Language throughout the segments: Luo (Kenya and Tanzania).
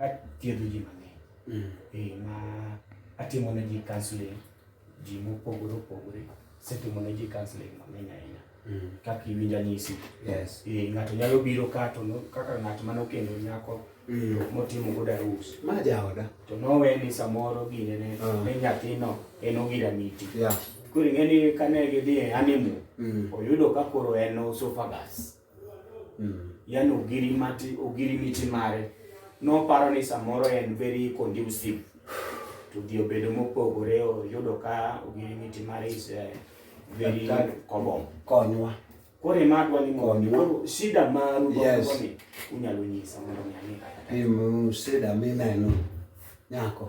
athiedho ji mang'eny mm. eh, ma atimo ne ji counseling ji mopogore opogore setimo ne ji counseling mang'eny ahinya mm. kaka iwinjo anyisi eh, ng'ato nyalo biro ka to kaka ng'at mane okendo nyako mm. motimo godo arus ma jaoda to nowe ni samoro gine ne ah. nyathino en ogira miti koro ing'e ni kane gidhi e honeymoon oyudo ka koro en osofagas mm. yani ogirimati ogirimiti mare noparo ni samoro en very conducive to dhi obedo mopogore oyudo ka ogirimiti mare is eh, very common konywa koro ema adwa ni mondo shida maru yes. ni unyalo nyisa mondo mi ang'e kata shida mineno nyako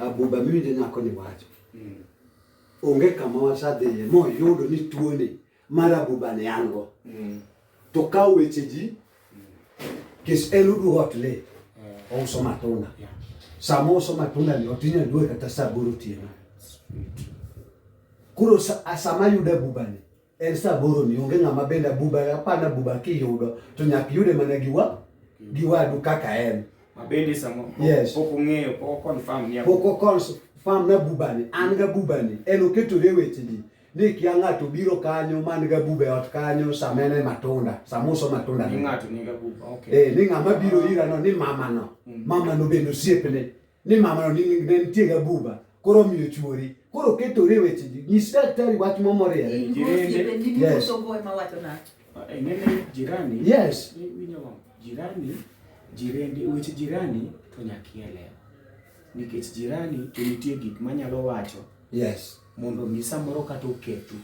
Abuba miwinjo nyako ni wacho. Mm. Onge kama wasadhiye moyudo ni tuoni mar abuba ne an go. Mm. To ka weche ji kis en udu ot le mm. ouso matunda. Sama ouso matunda ni otinya dwe kata saa boro otieno. Koro sama yudo abuba ni En saboro ni onge ng'ama bende abuba apana abuba kiyudo to nyaka yude mana gi wa gi wadu kaka en. Mabende samo yes. pok ong'eyo pok confirm ni pok confirm na buba ni an ga buba ni en oketore weche ni ni kia ng'ato biro kanyo man ga buba e ot kanyo samene matunda samuso matunda ni ng'ato ni ga buba okay eh ni ng'ama biro ira no ni mama no mm. mama no bende osiepne ni mamano ni ne nitie gabuba koro omiyo chuori koro oketore e weche ji nyis daktari wach momoriere Yes. Eh, nene jirani yes eh, winjo ma jirani jirende weche jirani to nyaka ielewa nikech jirani to nitie gik manyalo wacho yes mondo omi samoro kata oketu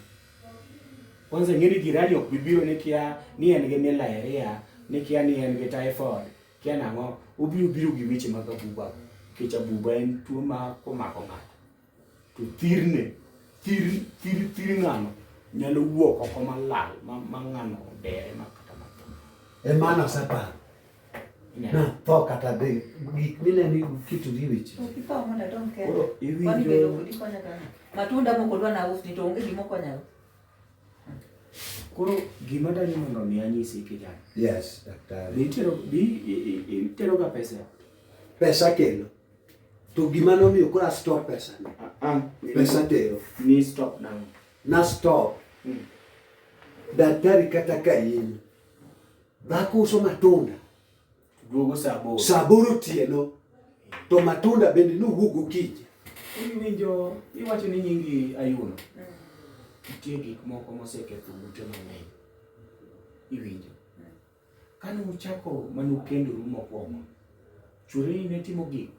kwanza ing'e ni jirani ok bibiro ni kia ni en gi malaria ni kia ni en gi typhoid kia nang'o obiro biro gi weche mag abuba nikech abuba en tuo ma komako ng'ato to thirne thir thir thir ng'ano nyalo wuok oko malal ma, ma ng'ano dere ma kata matho emana oseparo na tho kata be gik mineno kituri weche koro iwinjo matunda moko dwa nausni to onge gimokonyago Koro gima dani mondo mi anyisi kijana. Yes, daktari. Be itero be itero ga pesa? Pesa kelo. To gima nomiyo kora stop pesa. Ah, ah pesa tero. Ni stop now. Na stop. Mm. Daktari kata ka in dhako uso matunda duogo saa aboro saa aboro otieno to matunda bende nowuog okinyi. Iwinjo iwacho ni nyingi Ayuno, nitie gik moko moseketho ute mang'eny. Iwinjo kane uchako mane ukendoru mokwongo, chwereni ne timo gik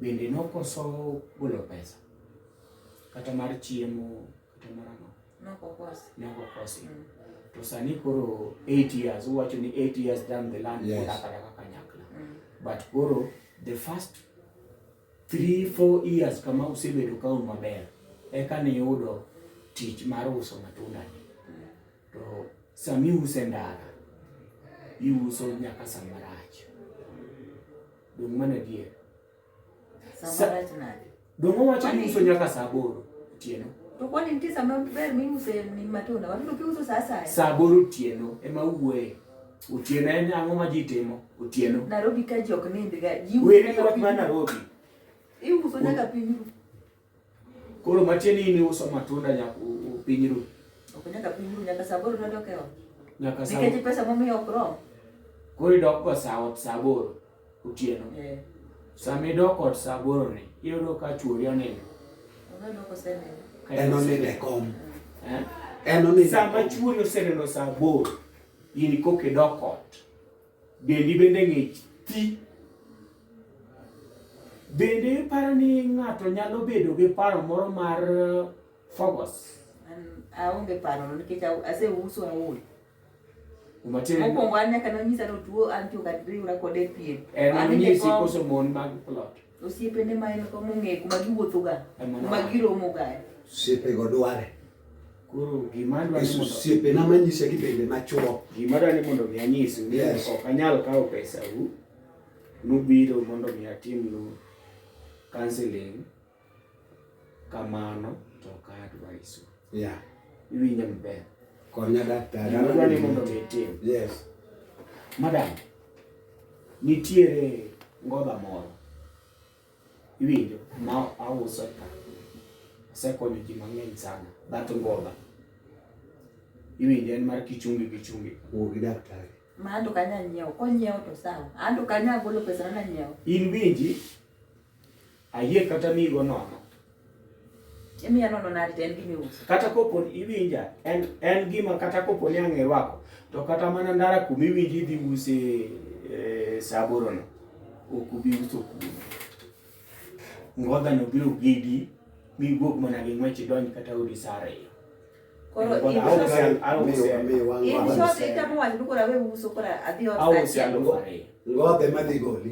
bende nokoso golo pesa kata mar chiemo Kata marano. Nokokosi. Nokokosi. Mm. To sani koro 8 years, uwacho ni 8 years down the line, yes. Kaka kaka kanyakla. Mm. But koro the first 3 4 years kama usebedo ka un maber, eka ni yudo tich mar uso matunda ni. Mm. To sami use ndara, iuso nyaka samarach. Dong mana dier. Dongo wacho ni uso nyaka saa aboro otieno. To kwani nitie sama ber miuse ni matunda? Watudo kiuso saa asaya. Saa aboro otieno ema uwuoye. Otieno en ang'o ma ji timo? Otieno. Nairobi ka ji ok nindga. Weri wach ma Nairobi. Iuso nyaka piny ru. Koro matieni in iuso matunda nyaka piny ru. Ok nyaka piny ru nyaka saa aboro nodok e ot. Nyaka saa. Nikech pesa momiyo ok rom. Koro idok go saa ot saa aboro otieno. Eh. Sama idok ot saa aboro ni iyudo ka chuori onindo. Ong'eyo ko osenindo. En onindo e kom. Eh? En onindo. Sama chuori osenindo saa aboro in koka idok ot. Dendi bende ng'ich ti. Bende iparo ni ng'ato nyalo bedo gi paro moro mar uh, fogos? Aonge paro nikech aseuso aol. Mokwongo an nyaka nonyisa ni otuo an to kata riwra kode piem. En nonyisi koso mon mag plot? Osiepene ma en kom ong'e kuma giwuothoga, kuma giromoga. Osiepego dware. Koro gima adwaro ni mondo osiepena manyisa gi bende machuo. Gima adwaro ni mondo mi anyisu ni yes. ok anyal kawo pesa u nubiro mondo mi atimnu counseling kamano to ok adwaisu. Yeah. Iwinja maber. Konya daktari. Gima adwaro ni mondo mi itim. Yes. Madam. Nitiere ngoda moro iwinjo ma auso ka osekonyo ji mang'eny sana that ngoda iwinjo en mar kichungi kichungi wuo gi daktari ma anto kanya nyiewo konyiewo to sawa anto kanya golo pesa na nyiewo in winji Ayie kata migo nono. Imiya nono nadi to en gima iuso. Kata kopo ni iwinja, en, en gima kata kopo ni ang' irwako, to kata mana ndara kuma iwinji idhi use eh, saa aborono, ok ubi uso kuno. Ngodhano biro gidi, mi iwuog mana gi ng'wech idonj kata odi saa ariyo. Koro Ngodha, in aonge short- sel- aonge Miyo- sel- miyo wang' in wang'. short itamo wacho ni koro awe uso koro adhi ot aonge saa sel achiel. alufu ariyo. Ngodhe madhi goli.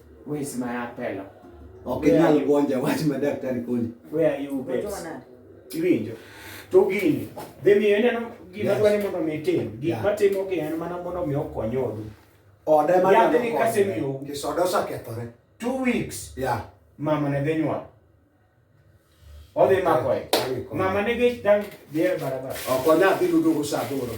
Wewe sima ya pelo. Okay, nyalo bonja wach ma daktari koni. Where are you babes? Iwinjo. To gini, dhi miyo ineno gima dwani mondo mi tim. Gik matimo gi en mana mondo mi okony odu. Oda ema nyalo konyo. Kasemiyo. Kisoda osekethore. Two weeks. Yeah. Mama ne dhi nyuol. Odhi mako e. Mama ne gi dang' dhi e barabara. Ok onya dhi ludo go sa aboro.